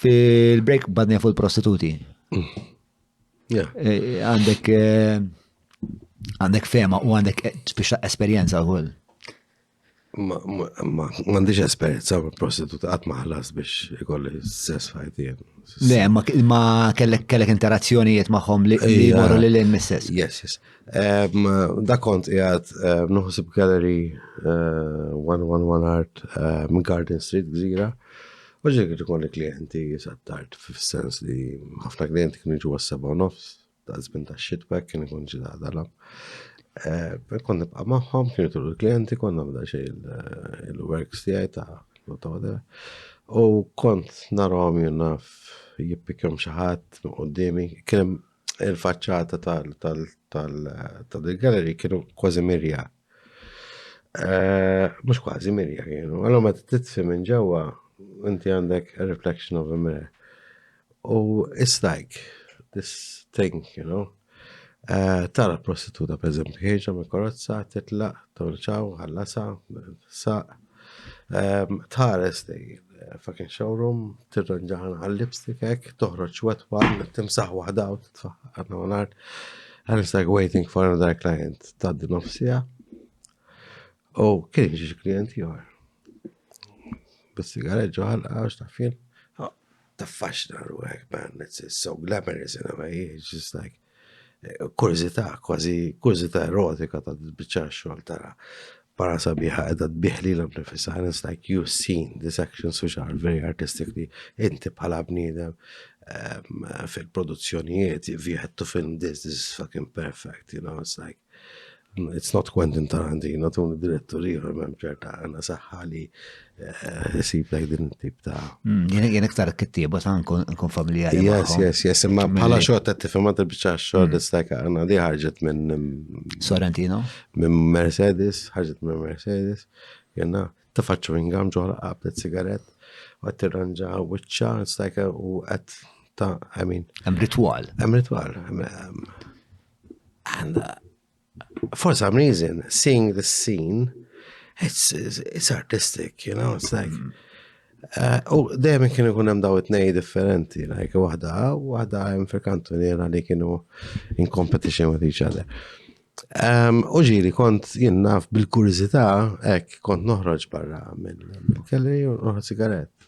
Fil-break badni fuq il-prostituti. Eh, għandek eh, għandek fema u għandek eh, biex esperienza u Ma għandix esperienza u prostituta għat maħlas biex ikolli sess fajtien. Le, ma kellek kellek interazzjonijiet maħħom li morru li l-in misses. Yes, yes. Da kont jgħat nuħsib gallery 111 Art Garden Street, Gżira. Oġġek qed ikolli klijenti sa tard fis-sens li ħafna klijenti kienu jiġu għas-seba' u nofs ta' żmien tax-xitwa kien ikun ġi daħdalhom. Eh, kont nibqa' magħhom, kienu turu l-klijenti, kont nagħmel xi eh, il-works tiegħi ta' l-autodera. U kont narhom jenna jippikjom xi ħadd qudiemi, kien il-faċċata tal-galleri kienu kważi mirjat Eh, mux kważi mirja kienu. Għallu ma t-titsi minn ġewa, inti għandek a reflection of a mirror. U it's like this thing, you know. Eh, tara prostituta, per eżempju, ħieġa me korozza, titla, torċaw, ħallasa, saq, Ehm, tħares dejjem fucking showroom, tirranġaħan għal-lipstick ek, toħroċ wet one, timsaħ wahda u titfaħ għanna għanart. And it's like waiting for another client, taddi nofsija. U oh, kien ġiġi klient jor. Bis-sigaret ġoħal, għax ta' fin. Oh, ta' faxna ruħek, man, it's so glamorous in a way, it's just like, Kurżità, kważi kurżità erotika ta' titbiċċar xogħol tara para sabiħa qiegħda tbigħ lilha nnifisha and it's like you've seen these actions which are very artistic li inti bħala bniedem ehm, fil-produzzjonijiet if you had to film this, this is fucking perfect, you know, it's like It's not Quentin Tarantino, tuni direttur ieħor m'hemm ċerta għandna saħħa li eh, sib lek din tip ta' hmm, Jien jien iktar kittieba ta' nkun familjari. Yes, yes, yes, imma bħala xogħol ta' tifhem għad biċċa xogħol hmm. istajka għandna di ħarġet minn mm, Sorrentino. Minn Mercedes, ħarġet minn Mercedes, jenna tafaċċu ingam ġoħra qabdet sigaret, għat tirranġa wiċċa, stajka u għat ta' għamin. Hemm ritwal. Hemm ritwal. And uh, for some reason, seeing this scene, it's, it's, it's artistic, you know, it's like. Mm. Uh, u dejjem kienu kun hemm daw it-nej differenti, like waħda waħda hemm fil-kantuniera li kienu in competition with each other. Um, u ġiri kont jien naf bil-kurizità hekk kont noħroġ barra mill-kelli u noħroġ sigaret.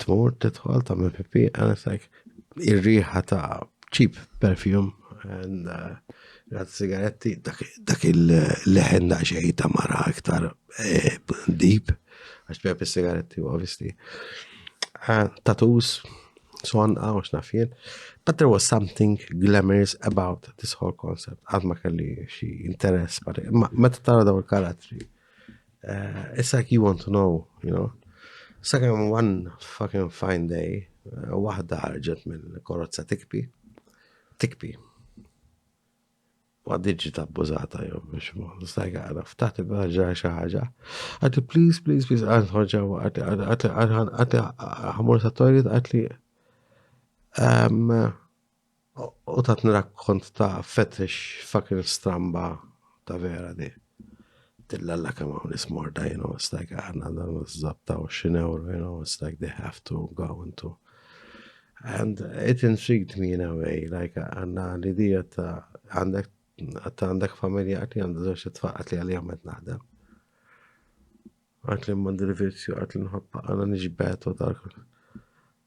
Tmur titħol ta' minn pipi, and it's like, ir-riħa ta' cheap perfume, and uh, għad sigaretti, dak il-leħen da' xej ta' mara iktar eh, deep, għax bħab il-sigaretti, obviously. Eh, tattoos, son għaw ah, xnafjen. But there was something glamorous about this whole concept. Għad ma kelli xie interess, ma ta' tara daw il-karatri. Uh, it's like you want to know, you know. Sakemm one fucking fine day, uh, waħda ħarġet minn korozza tikpi, tikpi. Ma diġi tabbużata jew biex ma nistajka għara ftaħt il-ħagġa xi ħaġa. Għati please, please, please, għan ħoġa għati ħamur sa' toilet għati um, U tatni rakkont ta' fetish fucking stramba ta' vera di. Tilla la kemm hawn ismorda, you know, it's like aħna dan żabta 20 euro, you know, it's like they have to go into. And it intrigued me in a way, like għanna l-idija ta' għandek għatta għandek familja għatli għandu zoċ t-tfaq għatli għalli għamet naħdem. Għatli mandi l-virzju għatli nħabba għana nġbet u tal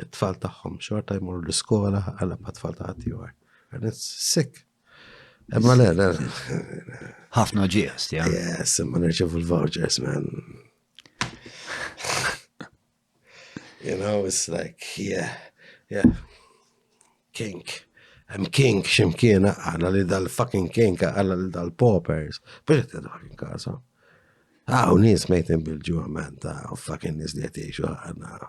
it-tfal tagħhom xorta jmorru l-iskola għal ma tfal ta' ħaddieħor. And it's sick. Imma le, le. Ħafna ġies, ja. Yes, imma nirċevu l-vouchers, man. you know, it's like, yeah, yeah. Kink. I'm kink ximkien għala li dal-fucking kink għala li dal-paupers. Biex t-dħar in kasa. Għaw, nis mejtin bil-ġuħament, għaw fucking nis li għetiexu għana.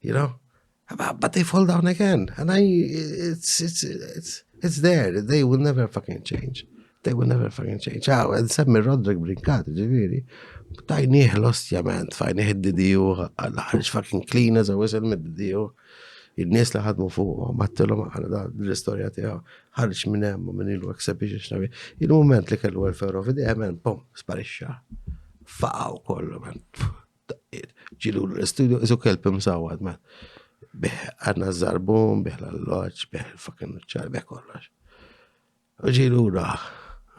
You know? But they fall down again. And I, it's, it's, it's, it's there. They will never fucking change. They will never fucking change. Għaw, għed semmi Roderick Brinkat, ġiviri. Tajnieh l-ostja, man. Tajnieh id-didiju, għal-ħarġ fucking clean as a whistle mid-didiju. Il-nies li ħadmu fuq, mattilom għal da l-istoria tiegħu. Ħarġ minn hemm minn ilu exhibition xnabi. Il-moment li kellu għal ferro fidejha, man, pom, sparixxa. Faqaw kollu, man. Daqqiet, ġi lura l-istudio, isu kelb imsawad, ma. Bih għadna żarbum, bih l-alloġ, bih il-fucking nuċċar, bih kollox. U ġi lura,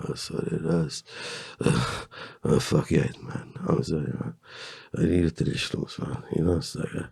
oh, sorry, ras, oh, fuck jgħid, man, oh, sorry, man, jgħid li xlus, man, jgħid,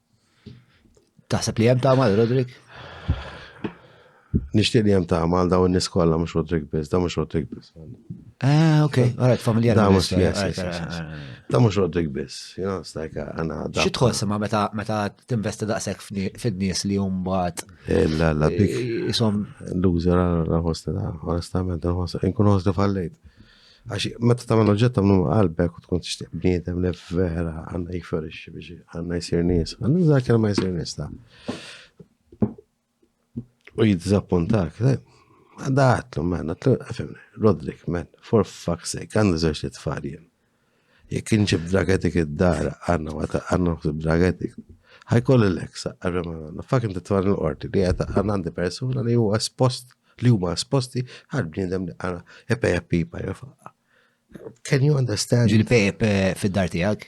Taħseb li hemm tagħmal, Rodrik? Nixtieq li hemm tagħmal daw in-nies kollha mhux Rodrik biss, da mhux Rodrik biss. Ah, ok, alright, familjar. Da mhux Da mhux Rodrik biss, you know, it's like għana. Uh, Xi tħoss ma meta meta tinvesti daqshekk fid-nies li hum mbagħad. Eh, la la dik. Isom. Loser għal ħosti da, onestament, inkun ħosti fallejt. Għax, meta tagħmel oġġett tagħmlu ma' qalbek u tkun tixtieq bniedem li vera għandna jifferixxi biex għandna jsir nies. Għandna nżar kelma jsir nies ta' u jiddizappuntak. Għadda għatlu, man, għatlu, għafimni, Rodrik, man, for fuck's sake, għandu zoċ li tfarjen. Jekk inġib dragetik id-dar, għanna ma ta' għanna nħsib dragetik. Ħajkoll l-eksa, għarra ma għanna. Fak inti t l-qorti li għata għanna għandi persona li huwa espost, li huma esposti għal bniedem li għana epe pipa jafaqqa. Can you understand? Ġil-pep eh, fid-dar tijak?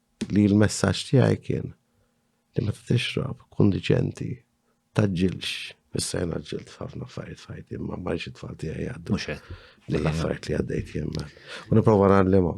Li l-messaġġ tiegħi kien li meta tixrob, kun diċenti, tgħaġġilx. Issa jien għaġġilt f'ħafna affarijiet f'ħajti, imma ma rridx it-tfal tiegħi jgħaddu. Mhux hekk. L-affarijiet li għaddejt jien. U nipprova nagħallimhom.